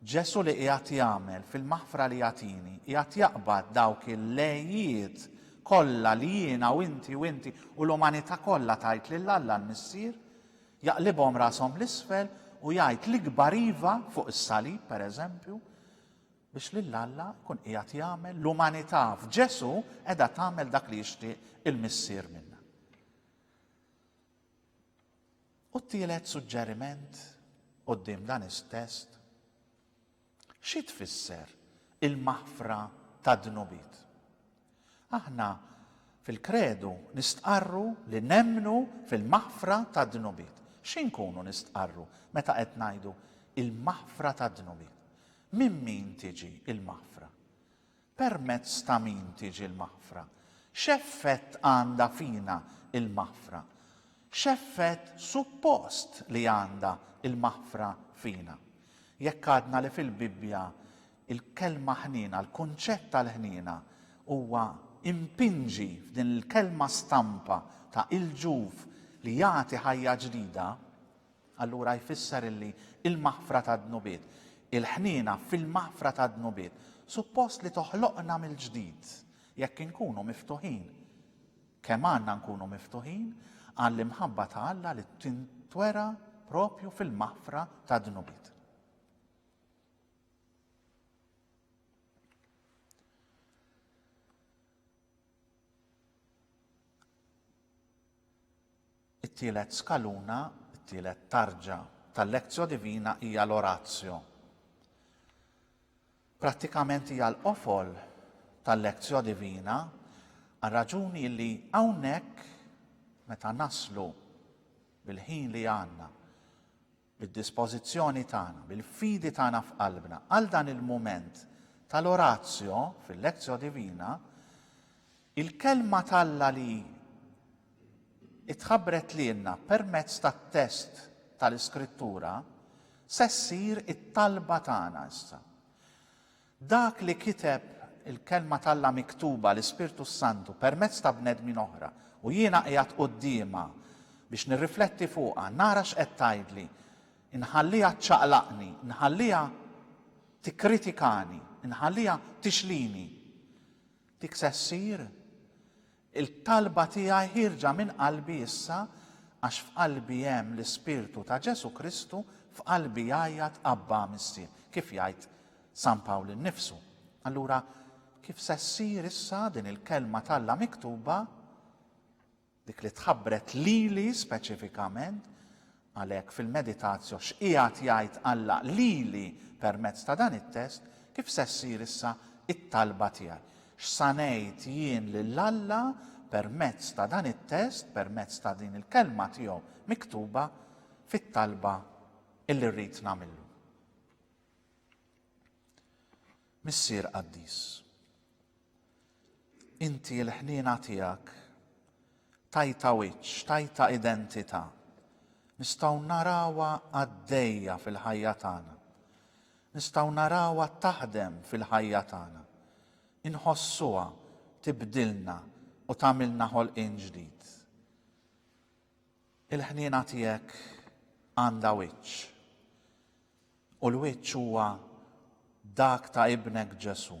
Ġesù li qiegħed jagħmel fil-maħfra li jagħtini qiegħed jaqbad dawk il-lejiet kollha li jiena u inti u inti u l-umanità kollha tgħid lil Alla l-Missier, Jaqlibhom rashom 'l isfel u jgħid l-ikbar iva fuq is-salib, pereżempju, biex lil Alla jkun qiegħed jagħmel l-umanità f'Ġesù qiegħda tagħmel dak li jixtieq il-Missier minna. U t-tielet suġġeriment qudiem dan is-test Xi tfisser il-maħfra tad-dnubiet? Aħna fil-Kredu nistqarru li nemmnu fil-maħfra tad-dnubiet. Xi nkunu nistqarru meta qed ngħidu il-maħfra tad-dnubiet? Minn min tiġi l-maħfra? Permezz ta' min tiġi l-maħfra? X'effett għandha fina l-maħfra? X'effett suppost li għandha l-maħfra fina? Jekk għadna li fil-Bibbja l-kelma ħniena, l-kunċett tal-ħniena huwa impinġi f'din il-kelma stampa ta' il-ġuf li jagħti ħajja ġdida, Allura jfisser illi l-maħfra tad-dnubiet, il-ħniena fil-maħfra tad-dnubiet, suppost li toħloqna mill-ġdid jekk inkunu miftuħin. Kemm għandna nkunu miftuħin għall-imħabba ta' Alla li tintwera proprju fil-maħfra tad-dnubiet. It-tielet skaluna, it-tielet tarġa, tal-Lectio Divina hija l-Oratio. Prattikament hija l-qofol tal-Lectio Divina għal raġuni li hawnhekk meta naslu bil-ħin li għandna bid-dispożizzjoni tagħna, bil-fidi tagħna f'qalbna, għal dan il-mument tal-Oratio fil-Lectio Divina, il-Kelma t'Alla li tħabbret lilna permezz tat-test tal-Iskrittura se ssir it-talba tagħna issa. Dak li kiteb il-Kelma t'Alla miktuba, l-Ispirtu s-Santu, permezz ta' bnedmin oħra, u jiena qiegħed quddiemha biex nirrifletti fuqha, nara x'qed tgħidli, inħalliha ċċaqlaqni, inħalliha tikkritikani, inħalliha tixlini. Dik se ssir? Il-talba tiegħi ħierġa minn qalbi issa għax f'qalbi hemm l-Ispirtu ta' Ġesù Kristu, f'qalbi jgħajjat Abbà, Missier, kif jgħid San Pawl innifsu. Allura, kif se ssir issa din il-Kelma t'Alla miktuba, dik li tħabbret lili speċifikament, Għalhekk, fil-meditatio x'qiegħed jgħid Alla lili permezz ta' dan it-test, kif se ssir issa t-talba tiegħi? X'sa ngħid jien lil Alla permezz ta' dan it-test, permezz ta' din il-Kelma tiegħu miktuba, fit-talba li rrid nagħmillu? Missier qaddis, inti l-ħniena tiegħek tajta wiċċ, tajta identità. Nistgħu narawha għaddejja fil-ħajja tagħna. Nistgħu narawha taħdem fil-ħajja tagħna. Inħossuha tibdilna u tagħmilna ħolqien ġdid. Il-ħniena tiegħek għandha wiċċ. U l-wiċċ huwa dak ta' Ibnek Ġesù.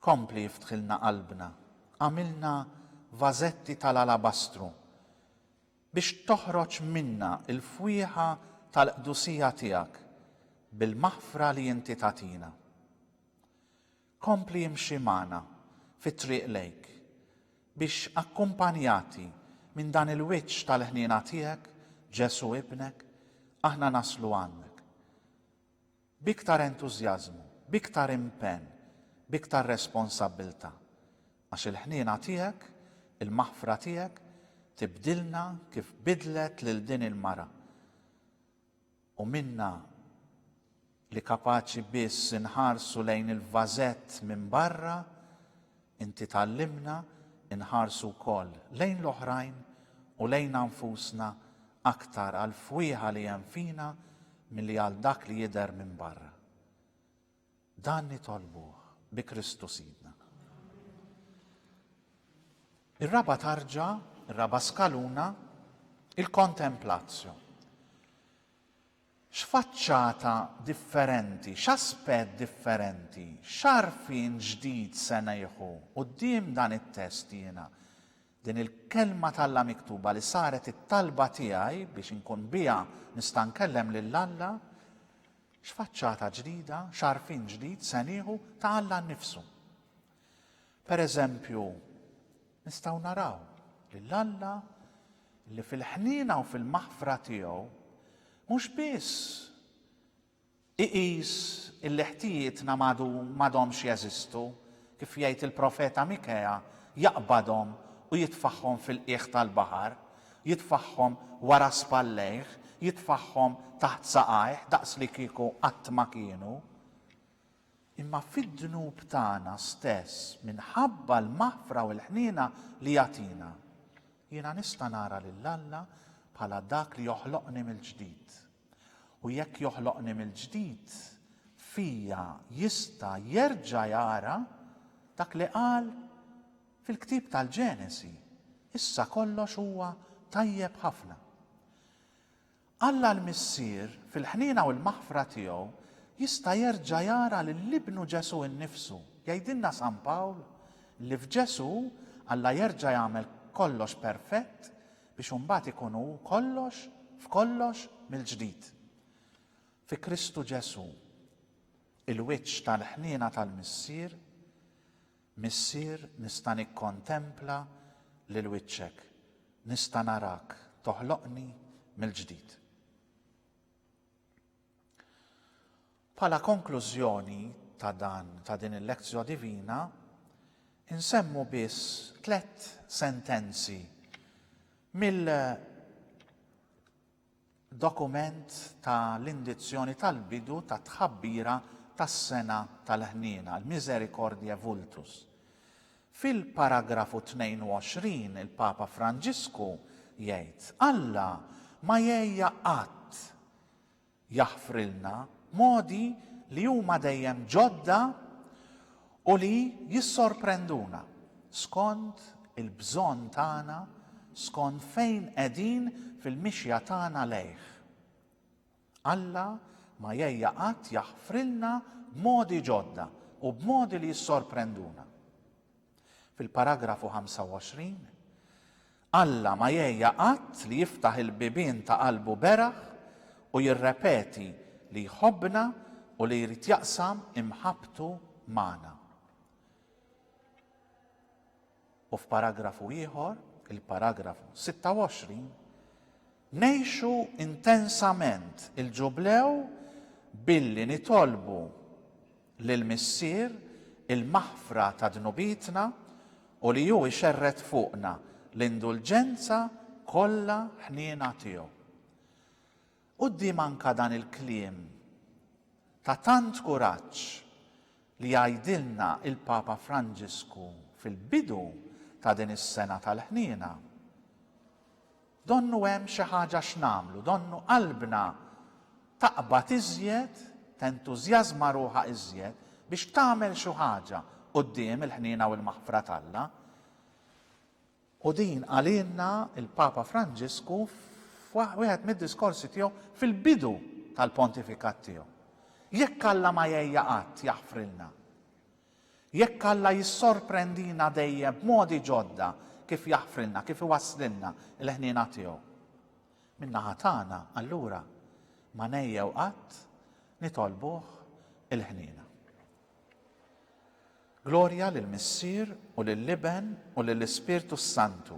Kompli iftħilna qalbna, agħmilna vażetti tal-alabastru, biex toħroġ minna l-fwieħa tal-qdusija tiegħek bil-maħfra li inti tagħtina. Kompli imxi magħna fit-triq lejk, biex akkumpanjati minn dan il-wiċċ tal-ħniena tiegħek, Ġesù Ibnek, aħna naslu għandek. B'iktar entużjażmu, b'iktar impenn, b'iktar responsabbiltà. Għax il-ħniena tiegħek, il-maħfra tiegħek, tibdilna kif biddlet lil din il-mara. u minnha li kapaċi biss inħarsu lejn il-vażett minn barra, inti tgħallimna nħarsu wkoll lejn l-oħrajn u lejna nfusna aktar għall-fwieħa li hemm fina milli għal dak li jidher minn barra. Dan nitolbuh bi Kristu Sidna. Ir-raba' tarġa, ir-raba' skaluna, il-kontemplatio. X'faċċata differenti, x'aspett differenti, x'għarfien ġdid se nieħu quddiem dan it-test jiena? Din il-Kelma t'Alla miktuba li saret it-talba tiegħi biex inkun biha nista' nkellem lil Alla, x'faċċata ġdida, x'għarfien ġdid se nieħu ta' Alla nnifsu? Pereżempju, nistgħu naraw lil Alla li fil-ħniena u fil-maħfra tiegħu mhux biss Iqis illi ħtijietna m'għadu m'għadhomx jeżistu, kif jgħid il-profeta Mikea, jaqbadhom u jitfagħhom fil-qiegħ tal-baħar, jitfagħhom wara spallejh, jitfagħhom taħt saqajh daqslikieku qatt ma kienu. Imma fid-dnub tagħna stess, minħabba l-maħfra u l-ħniena li jagħtina, jiena nista' nara lil Alla bħala dak li joħloqni mill-ġdid. U jekk joħloqni mill-ġdid, fija jista' jerġa' jara dak li qal fil-ktieb tal-Ġenesi, Issa kollox huwa tajjeb ħafna. Alla l-Missier, fil-ħniena u l-maħfra tiegħu, jista' jerġa' jara lil Ibnu Ġesù nnifsu. Jgħidilna San Pawl li f'Ġesù Alla jerġa' jagħmel kollox perfett biex imbagħad ikun hu kollox f'kollox mill-ġdid. Fi Kristu Ġesù, il-wiċċ tal-ħniena tal-Missier, Missier nista' nikkontempla lil wiċċek, nista' narak toħloqni mill-ġdid. Bħala konklużjoni ta' dan ta' din il-Lectio Divina, insemmu biss tlett sentenzi mill dokument ta' l-indizzjoni tal-bidu ta' tħabbira tas-sena tal-ħniena, l-Misericordiae Vultus. Fil-paragrafu 22 il-Papa Franġisku jgħid, Alla ma jgħejja qatt jaħfrilna modi li huma dejjem ġodda u li jissorprenduna skont il-bżonn tagħna, skont fejn qegħdin fil-mixja tagħna lejh. Alla ma jgħejja qatt jaħfrilna b'modi ġodda u b'modi li jissorprenduna. Fil-paragrafu 25, Alla ma jegħja qatt li jiftaħ il-bibien ta' qalbu beraħ u jirrepeti li jħobbna u li jrid jaqsam imħabbtu magħna. U f'paragrafu ieħor, il-paragrafu 26, Ngħixu intensament il-Ġublew billi nitolbu lill-Missier il-maħfra ta' dnubietna u li Hu jxerred fuqna l-indulġenza kollha ħniena tiegħu. Quddiem anke dan il-kliem ta' tant kuraġġ li jgħidilna l-Papa Franġisku fil-bidu ta' din is-sena tal-ħniena, Donnu hemm xi ħaġa x'nagħmlu, donnu qalbna taqbad iżjed, tentużjażma ruħha iżjed biex tagħmel xi ħaġa quddiem il-ħniena u l-maħfra t'Alla. U din qalilna l-Papa Franġisku f'wieħed mid-diskorsi tiegħu fil-bidu tal-pontifikat tiegħu. Jekk Alla ma jgħejja qatt jaħfrilna, Jekk Alla jissorprendina dejjem b'modi ġodda kif jaħfrilna, kif iwasslilna il-ħniena tiegħu, min-naħa tagħna allura ma ngħejjew qatt nitolbuh il-ħniena. Glorja lill-Missier u lill-Iben u lill-Ispirtu s-Santu.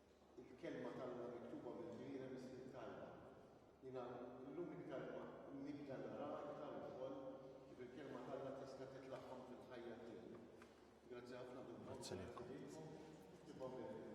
Il-Kelma t'Alla miktuba mill-ġlieda mis-Slieb t'Alla. Jiena llum iktar ma nibda naraha iktar ukoll kif il-Kelma t'Alla tista' titlaħħam fil-ħajja tiegħi. Grazzi ħafna bil-mod kif ħdejthom tiktibha mill-Lhudda.